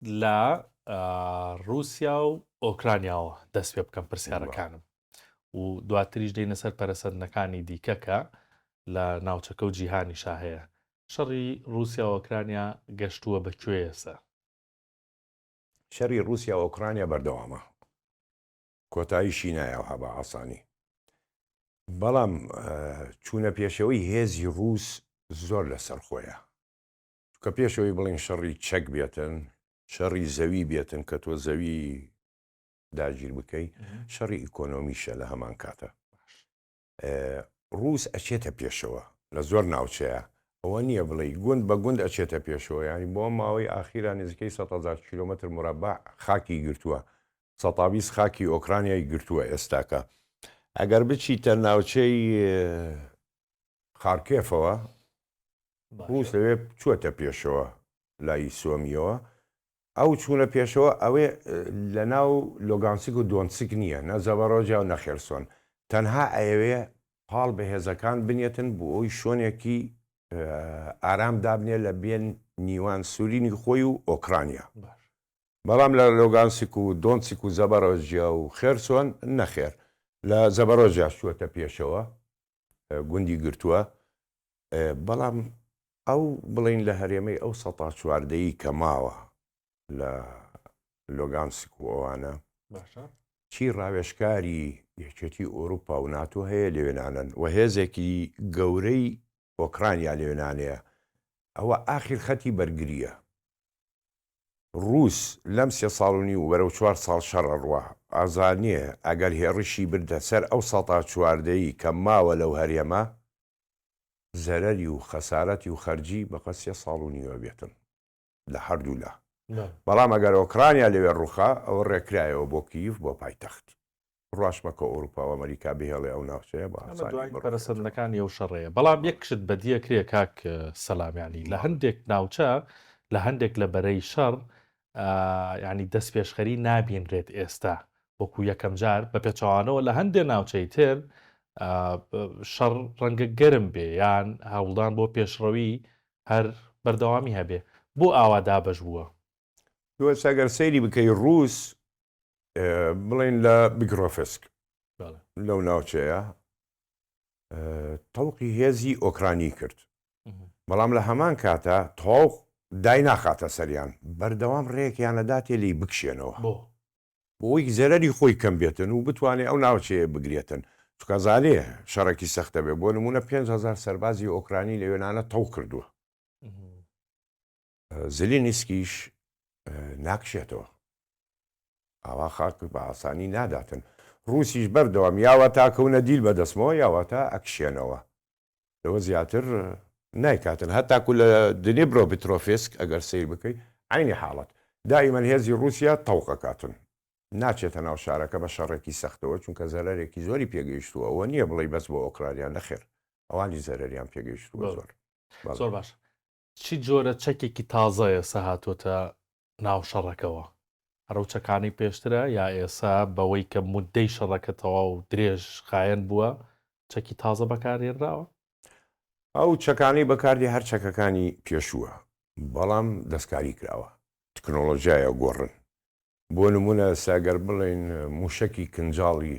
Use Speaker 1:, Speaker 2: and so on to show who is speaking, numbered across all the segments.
Speaker 1: لە ڕوسیا و ئۆکرانیاوە دەست پێ بکەم پرسیارەکانم و دواتریش دەینە سەر پەرسەندنەکانی دیکە کە لە ناوچەکە و جیهانی شاهەیە شەڕی رووسیا و ئۆکرانیا گەشتووە بە کوێسە
Speaker 2: شەری رووسیا و ئۆکرانیا بەردەوامە کۆتایی شینایەوە هەبە ئاسانی بەڵام چوونە پێشەوەی هێزی رووس زۆر لەسەر خۆیە چونکە پێش ئەوەی بڵێین شەڕی چەک بێتن شەڕی زەوی بێتن کە تۆ زەوی داگیر بکەی شەڕی ئیکۆنۆمیشە لە هەمان کاتە ڕوس ئەچێتە پێشەوە لە زۆر ناوچەیە ئەوە نییە بڵێ گوند بە گوند ئەچێتە پێشەوە ینی بۆ ماوەی ئاخیرا نزیکەی 100هزار کیلومتر مربع خاکی گرتووە سەتاویست خاکی ئۆکرانیای گرتووە ئێستاکە ئەگەر بچیتە ناوچەی خارکێفەوە ڕووس لەوێ چووەتە پێشەوە لای سۆمیەوە ئەو چوونە پێشەوە ئەوێ لەناو لۆگانسک و دۆنسک نییە نە زەبەڕۆجە و نە خێرسۆن تەنها ئەیەوێ پاڵ بە هێزەکان بنێتن بۆ ئەوی شۆنێکی ئارام دابنێ لە بێن نیوان سورینی خۆی و ئۆکرانیا بەڵام لە لۆگانسک و دۆنسک و زەبەڕۆجیا و خێرسۆن نەخێر لە زەبەڕۆجیا شووەتە پێشەوە گوندی گرتووە، بەڵام ئەو بڵێین لە هەرێمەی ئەو سەتا چواردەیی کە ماوە لە لۆگانسک و ئەوانە چی ڕاوێشکاری یەکێتی ئۆروپا و ناتۆ هەیە لەوێنانن و هێزێکی گەورەی ئۆکرانیا لەوێنانەیە ئەوە ئاخیر خەتی بەرگریە ڕووس لەم سێ ساڵ و نیو و بەرەو چوار ساڵ شەڕ ئەڕوا، ئازانییە ئەگەر هێڕشی بردە سەر ئەو سەتا چواردەیی کە ماوە لەو هەرێمە، زەرەری و خەسارەتی و خەرجی بەقەد سێ ساڵ و نیو ئەبێتن لە هەردوو لا. بەڵام ئەگەر ئۆکرانیا لەوێ ڕووخا، ئەوە ڕێکرایەوە بۆ کییف، بۆ پایتەخت. ڕاست مەکە ئەوروپا و ئەمەریکا بهێڵێ ئەو ناوچەیە بە ئاسانی بڕۆ. ئەمە دوایین پەرەسەندنەکانی
Speaker 1: ئەو شەڕەیە. بەڵام یەک شت بەدیە کرێ کاک سەلام یانی لە هەندێک ناوچە لە هەندێک لە بەرەی شەڕ یانی دەسپێشخەری نابینرێت ئێستا وەکو یەکەم جار بە پێچەوانەوە لە هەندێ ناوچەی تر شەڕ ڕەنگە گەرم بێ یان هەوڵدان بۆ پێشڕەوی هەر بەردەوامی هەبێ بۆ ئاوا دابەش بووە؟ دووە سەگەر
Speaker 2: سەیری بکەی ڕووس بڵێن لە بگرۆفسک لەو ناوچەیە تەوقی هێزی ئۆکرانی کرد بەڵام لە هەمان کاتە تۆق دایناخاتە سەریان بەردەوام ڕێکیانەدا تێ لی بکشێنەوە بۆ بۆی زەرری خۆی کەم بێتن و بتوانێت ئەو ناوچەیە بگرێتن چکازانێ شەڕێکی سەختە بێ بۆ نمونە 5هزار سەربازی ئۆکرانی لە وێنانە تەو کردووە زیلینسکیش ناکشێتەوە. ئاوا خاک بە ئاسانی ناداتن. ڕووسیش بەردەوام یاوەتا کەونە دیل بە دەستمەوە یاوەتا ئەکشێنەوە. لەوە زیاتر نایکاتن. هەتاکو لە دنیبرۆ بترۆفیسک ئەگەر سەیر بکەی عەینی حاڵەت. دائیمەن هێزی ڕووسیا تەوق ئەکاتن. ناچێتە ناو شارەکە بە شەڕێکی سەختەوە چونکە زەرەرێکی زۆری پێگەیشتووە ئەوە نییە بڵێی بەس بۆ ئۆکرانیا نەخێر ئەوانیش زەرەریان پێگەیشتووە زۆر. زۆر باشە.
Speaker 1: چ جۆرە چەکێکی تازە ئێسە هاتۆتە ناو شەڕەکەوە؟ ئەرەو چەکانەی پێشترە یا ئێسە بەوەی کە مودەی شەڕەکە تەواو درێژ خایەن بووە چەکی تازە بەکارهێنراوە؟
Speaker 2: ئەو چەکانەی بەکاردێ هەر چەکەکانی پێشووە بەڵام دەستکاری کراوە تکنۆلۆژیایە گۆڕن بۆ نموونە ئێسە گەر بڵێین مووشەکی کنجاڵی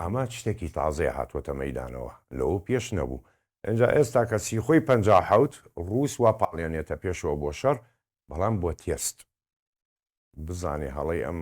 Speaker 2: ئەمە شتێکی تازەیە هاتووەتە مەیدانەوە لەوە پێش نەبوو، ئینجا ئێستا کە سیخۆی پەنجا و حەوت ڕووس وا پاڵێنێتە پێشەوە بۆ شەڕ بەڵام بۆ تێست بزانێ هەڵەی ئەم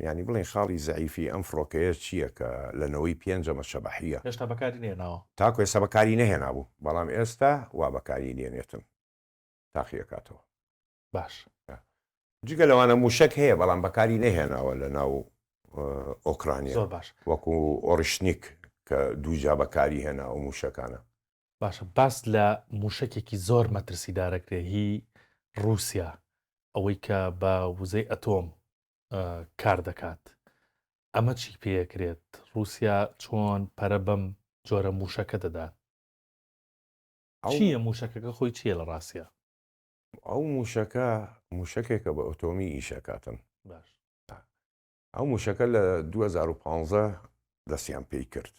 Speaker 2: یانی بڵێین خاڵی زەعیفی ئەم فڕۆکەیە چییە کە لە نەوەی پێنج ئەمە شەبەحییە هێشتا بەکاری نەهێناوە.
Speaker 1: تاکو ئێستا بەکاری
Speaker 2: نەهێنابوو بەڵام ئێستا وا بەکاری دێنێتن تاقی ئەکاتەوە. باش. جگە لەوانە موشەک هەیە بەڵام بەکاری نەهێناوە لە ناو ئۆکرانیا زۆر باش وەکو
Speaker 1: ئۆریشنیک
Speaker 2: کە دووجا بەکاری هێنا ئەو موشەکانە. باشە باس
Speaker 1: لە موشەکێکی زۆر مەترسیدارەکرێ هی روسیا ئەوەی کە بە وزەی ئەتۆم کار دەکات ئەمە چی پێکرێت روسیا چۆن پەرە بەم جۆرە موشەکە دەدات؟ چیە موشەکەکە خۆی چیە لە راستە؟ ئەو
Speaker 2: موشەکە موشەکێکە بە ئۆتۆمی ئیشەکاتن
Speaker 1: باش
Speaker 2: ئەو موشەکە لە 2015 دەستیان پێی کرد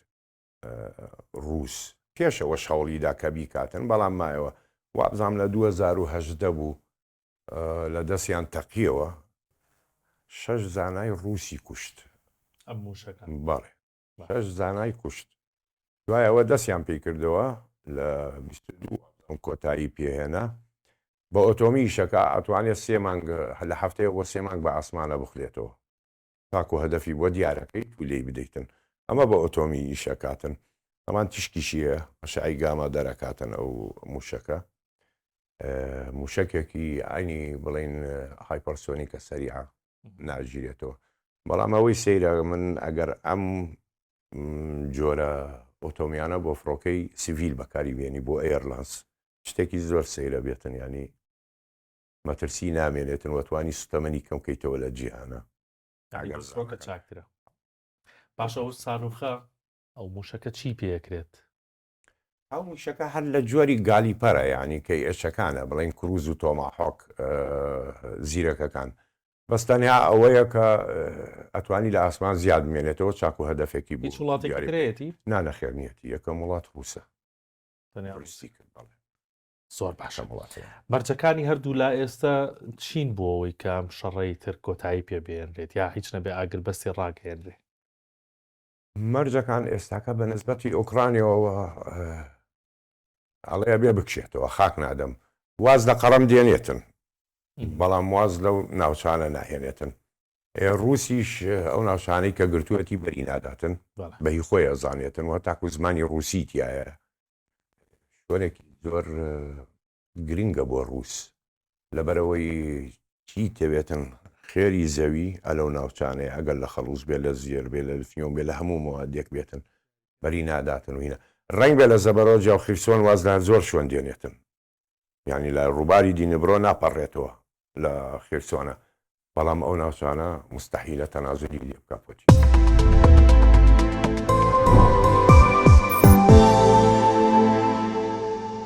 Speaker 2: ڕوس پێشەوە شەوڵیدا کە بیکاتن بەڵام مایەوە وابزانام لە 2010 بوو لە دەستیان تەقیەوە شەش زانای ڕوسی کوشت
Speaker 1: بەڵێ
Speaker 2: شەش زانای کوشت. دوای ئەوە دەستیان پێی کردەوە لە بیست و دوو ئەپرێڵ کۆتایی پێ هێنا بە ئۆتۆمیشە کە ئەتوانێت سێ مانگ لە هەفتەیەک بۆ سێ مانگ بە ئاسمانە بخرێتەوە تاکو هەدەفی بۆ دیارەکەیت و لێی بدەیتن ئەمە بە ئۆتۆمی ئیش ئەکاتن ئەمان تیشکیشی هەیە ئەشعەی گاما دەرەکاتن ئەو موشەکە موشەکێکی عەینی بڵێن هایپەرسۆنیکە سەریعە ناگیرێتەوە بەڵام ئەوەی سەیرە من ئەگەر ئەم جۆرە ئۆتۆمیانە بۆ فڕۆکەی سیڤیل بەکاری بێنی بۆ ئێرلانس شتێکی زۆر سەیرە بێتن ینی مەترسی نامێنێتن وەتوانی سوتەمەنی کەم کەیتەوە لە جیهانە چاکترە
Speaker 1: باشە ئەو ساروخە ئەو موشەکە چی پێکرێت
Speaker 2: ئەو موشەکە هەر لە جۆری گالیپەرە یانی کەی ئێچەکانە بڵین کروز و تۆماحۆک زیرەکەکان بەس تەنیا ئەوەیە کە ئەتوانی لە ئاسمان زیاد مێنێتەوە چاک و هەدەفێکی بچ وڵاتێتی
Speaker 1: نانەخێرنیەتی
Speaker 2: یەکەم وڵات ڕووسە زۆر
Speaker 1: باشە وڵاتێ مەرجەکانی هەردوو لا ئێستا چین بۆ ئەوەی کەم شەڕی تر کۆتایی پێ بێنرێت یا هیچ نەبێ ئاگربەستی ڕاگەێنرێ مەرجەکان
Speaker 2: ئێستاکە بە نسبەتی ئۆکرانیەوە ئەڵێ ئەبێ بکشێتەوە خاک نادەم واز لە قەڕەم دێنێتن بەڵام واز لەو ناوچانە ناهێنێتن ڕوسیش ئەو ناوچانەی کە گرتووەتی بەری ناداتن بەهی خۆی ئەزانێتن وە تاکو زمانی ڕوسی تایە شوێنێکی زۆر گرنگە بۆ ڕووس لەبەرئەوەی چی تەوێتن خێری زەوی ئەلەو ناوچانەیە ئەگەر لە خەڵوز بێت لە زێر بێت لە لتنیۆم بێت لە هەموو مەوادێک بێتن بەری ناداتن و هینا ڕەنگ بێت لە زەبەرۆجا و خیرسۆن واز لە زۆر شوێن دێنێتن یانی لە ڕووباری دینبرۆ ناپەڕێتەوە لە خیرسۆنە بەڵام ئەو ناوچانە مستحیلە تەنازلی لێ بکە پۆتی.